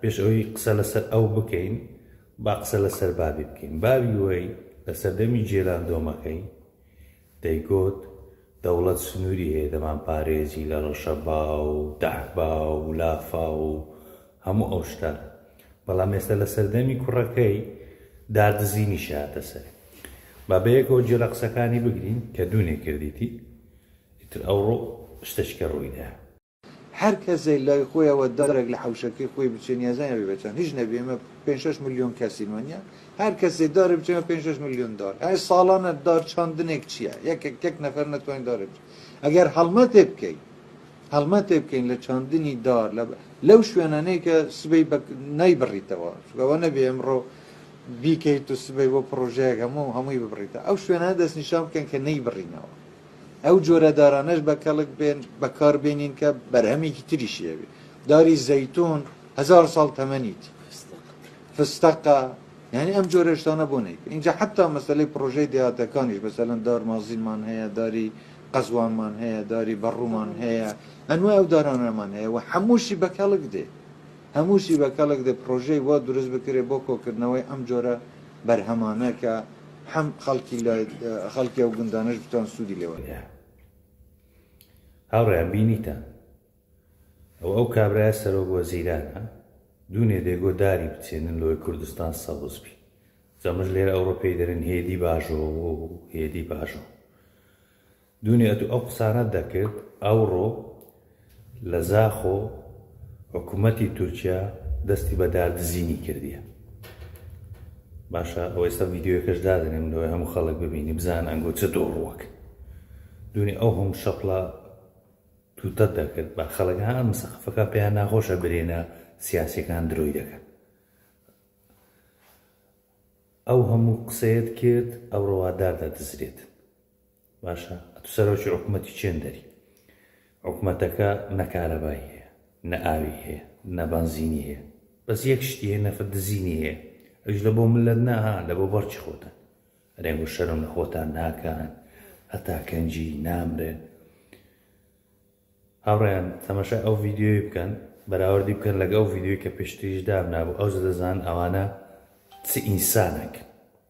پێش ئەوەی قسە لەسەر ئەو بکەین با قسە لەسەر بابی بکەین باوی وەی لە سەردەمی جێران دۆمەکەی دەیگۆت دەوڵەت سنووری هەیە دەمان پارێزی لە ڕەشەبا و دەحبا و لافا و هەموو ئەو شتان بەڵام ئێستا لە سەردەمی کوڕەکەی دادزینی شاتە سەر بابەیەکەوە جێرە قسەکانی بگرین کە دوونێ کردیتی ئیتر ئەوڕۆ شتەشکە ڕوویدا هەر کەسێک لای خۆیەوە دەڕێک لە حەوشەکەی خۆی بچێ نیازە نەبێ بە چەند هیچ نەبێ ئێمە پێنج شەش ملیۆن کەسین وەنیە هەر کەسێ دارێ بچێمە پێنج شەش ملیۆن دار ئەی ساڵانە دار چاندنێک چییە یەکێک یەک نەفەر نەتوانین دارێ بچێ ئەگەر هەڵمەتێ بکەین هەڵمەتێ بکەین لە چاندنی دار لە لەو شوێنانەیە کە سبەی نایبڕیتەوە چگەوە نەبێ ئەمڕۆ بیکەیت و سبەی بۆ پرۆژەیەک هەموو هەمووی ببڕیتە ئەو شوێنە دەستنیشان بکەن کە نەیبڕینەوە ئەو جۆرە دارانەش بە کەڵک بێن بەکار بێنین کە بەرهەمێکی تریشی هەبێت داری زەیتون هزار ساڵ تەمەنیت فستەقە یعنی ئەم جۆرە شتانە بۆ نیت اینجا حتا مەسلەی پرۆژەی دێهاتەکانیش بەسەلەن دار مازینمان هەیە داری قەزوانمان هەیە داری بەڕوومان هەیە ئەنوای ئەو دارانەمان هەیە و هەمووشی بە کەڵک دێ هەمووشی بە کەڵک دێ پرۆژەی وا دروست بکرێت بۆ کۆکردنەوەی ئەم جۆرە بەرهەمانەکە حەم خەڵکی لە خەڵکی ئەو گوندانەش بتوان سوودی لێ وەربگرن. هاوڕێیان بینیتان ئەو ئەو کابرایە سەرۆک وەزیرانە دوونێ دێگۆ داری بچێنن لۆی کوردستان سەوز بی جەمژ لێرە ئەوڕۆ پێی دەرن هێدی باژۆ و هێدی باژۆ دونیا تو ئەو قسانەت دەکرد ئەوڕۆ لە زاخۆ حکومەتی تورکیا دەستی بە دار دزینی کردیە باشە ئەو ئێستا ڤیددیوەکەش دادنێم لەوەی هەموو خەڵک ببینی بزان ئەنگۆ چ دۆڕوەک دونی ئەو هەم شەپڵە توتە دەکرد بە خەڵک ها مسەقفەکە پێیان ناخۆشە برێنە سیاسەکان درۆی دەکەن ئەو هەموو قسەیەت کرد ئەو ڕەوادار دەدزرێت باشە ئەتو سەرۆکی حکومەتی چێندەری حکومەتەکە نەکارەبای هەیە نە ئاوی هەیە نە بەنزینی هەیە بەس یەک شتی هەیە نەفت دزینی هەیە ئەوش لە بۆ ملت ناها لە بۆ بەڕکی خۆتان ئەرێن بۆ شەرم لە خۆتان ناکان هەتا کەنجی نامرێن هاوڕێیان تەمەشا ئەو ڤیددیوی بکەن بەراوردی بکەن لەگە ئەو ڤیددیوی کە پێشتریش دامنابوو ئەو زە دەزان ئەوانە چ ئینسانێک